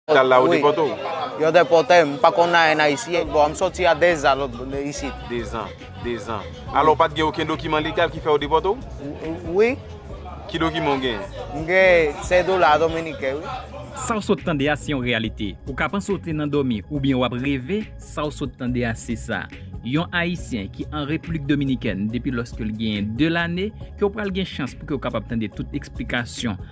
Tal la ou depòte ou? Wi, yo depòte m, m pa konn anyen ayisyen. Bon, m soti a dezan lòt bò de isit. Dezan, dezan. Alò ou pa t gen okenn dokiman legal ki fè yo depòte ou? Wi. Ki dokiman ou genyen? M gen sedola dominiken wi. Sa w sot tande a se yon reyalite. Ou ka panse w te nan dòmi oubyen w ap reve, sa w sot tande a se sa. Yon ayisyen ki an Repiblik Dominikèn depi lòske l genyen 2 lane ke w pral gen chans pou ke w kapab tande tout eksplikasyon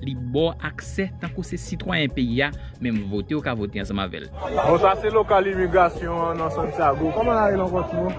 Li ba w aksè tankou se sitwayen peyi a, menm vote ou ka vote ansanm avè l. Bon sa se lokal imigrasyon an nan Santiago. Koman la rele ankò ti moun?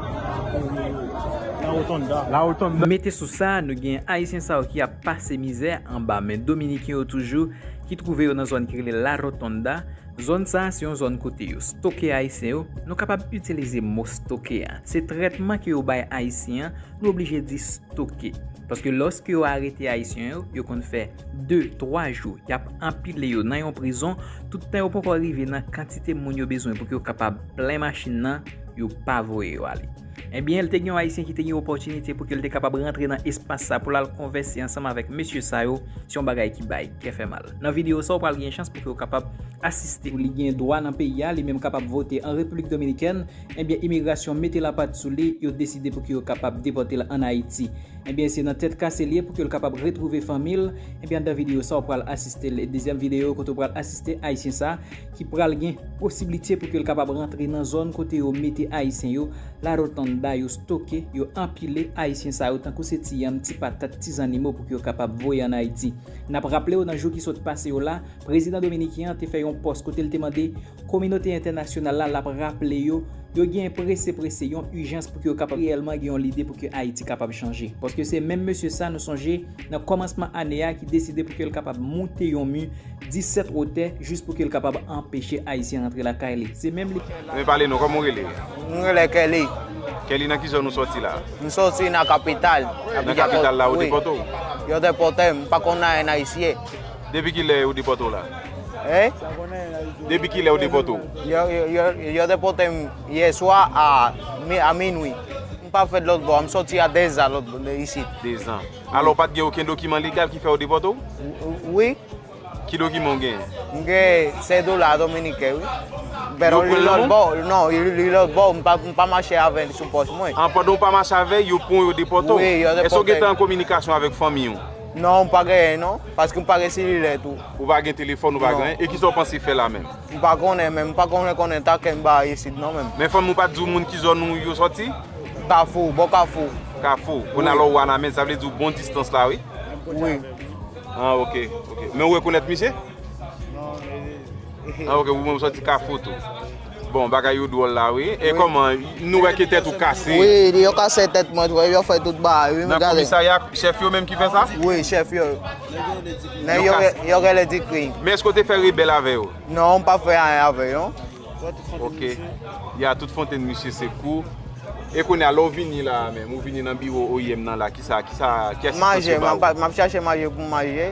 La Rotonda. La Rotonda. Mete sou sa, nou gen Ayisyen sa yo ki ap pase mizè anba men Dominiken yo toujou ki twouve yo nan zòn ki rele La Rotonda. Zòn sa a se yon zòn kote yo stoke Ayisyen yo. Nou kapab itilize mo stoke a. Se trètman ke yo bay Ayisyen an Nou oblije di stoke. Paske lòske yo arete Ayisyen yo, yo konn fè 2, 3 jou y ap anpile yo nan yon prizon, tout tan yo poko rive nan kantite moun yo bezwen pou k yo kapab plen machin nan, yo pa voye yo ale. Ebyen, te gen yon Ayisyen ki te gen opòtinite pou ke l te kapab rantre nan espas sa pou l al konvèse ansanm avèk mesye sa yo, se yon bagay ki bay kè fè mal. Nan videyo sa, ou pral gen chans pou ke w kapab asiste. Li gen dwa nan peyi a, li menm kapab vote an Repiblik Dominikèn. Ebyen imigrasyon mete lapat sou li, yo deside pouki yo kapab depòte l an Ayiti. Ebyen se nan tèt kase l ye pouki l kapab retwouve fanmi l, ebyen anndan videyo sa w pral asiste l, dezyèm videyo kote w pral asiste ayisyen sa ki pral gen posiblite pouki l kapab rantre nan zòn kote yo mete ayisyen yo, la rotanda, yo stoke, yo anpile ayisyen sa yo tankou se ti yanm, ti patat, ti zannimo pouki yo kapab voye an Ayiti. N ap raple w nan jou ki sot pase yo la, prezidan dominiken an te fè yon pòs kote l te mande. Kominote entènasyonal la lap raple yo, yo genyen prese prese, yon ijans pou ke yo kapab reyèlman gen yon lide pou ke Ayiti kapab chanje. Paske se menm mesye sa nou sonje nan kòmansman ane a ki deside pou ke l kapab moute yon mi 17 wotè jis pou ke l kapab anpeche Ayisyen rantre lakay li. Se menm li. Mwen pale nou, kòman ou rele? Mwen rele Kelly. Kelly nan ki zòn ou sòti la? M sòti nan kapital. Nan kapital la yo depote w? Yo depote m, m pa konn anyen ayisyen. Depi kilè yo depòte w la? Hein? Depi kilè yo depòte w? Yo, yo, yo depòte m yè swa a, a minwi. M pa fèt lòt bò, m sòti a 2 zan lòt bò isit. 2 zan. Alò ou pa t gen okenn dokiman legal ki fè yo depòte w? Wi. Ki dokiman ou genyen? M gen sedola dominiken wi. Bèt Yo pran l nan menw? Non, li lòt bò, m pa, m pa mache avè l sou pòch mwen. An, pandan ou pa mache avè l, yo pran w yo depòte w? Wi, yo depòte m. Èske ou gentan an kominikasyon avèk fanmi ou? Non, m pa genyen non, paske m pa gen selilè tou. Ou pa gen telefòn, ou pa gen anyen, e kisa ou panse fè la menm? M pa konnen menm, m pa konnen konnen ta kenba isit non menm. Men fanmi ou pa t di ou moun ki zòn ou yo sòti? Kafou, bò kafou. Kafou, ou nan alò Wanament, sa vle di ou bon distans la wi? Wi. Ah ok, ok. Men ou rekonèt misye? Non, e. Ah ok, ou menm ou sòti kafou tou. Bon bagay yo dwòl la wi. E kòman nou wè ke tèt ou kase? Wi, yo kase tèt mwen tou e yo fè tout bagay wi. Nan komisarya a, chèf yo menm ki fè sa? Wi, chèf yo. Nèg yo rele Dikri. Yo rele Dikri. Men èske w te fè rebèl avè yo? Non, m pa fè anyen avè yo. Ok. Li a tout fontenn misye se kou. E kounye a, lè w vini la a menm, ou vini nan biwo oim nan la, kisa, kisa, ki asistans yo ba ou? Manje, m ap chache manje pou m manje.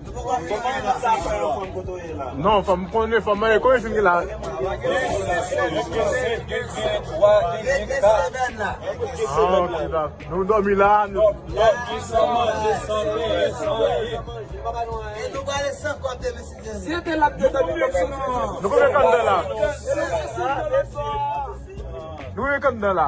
Non fòm konnen fòm mwen konnen sim ki la. Nou domi la. Nou e kanda la.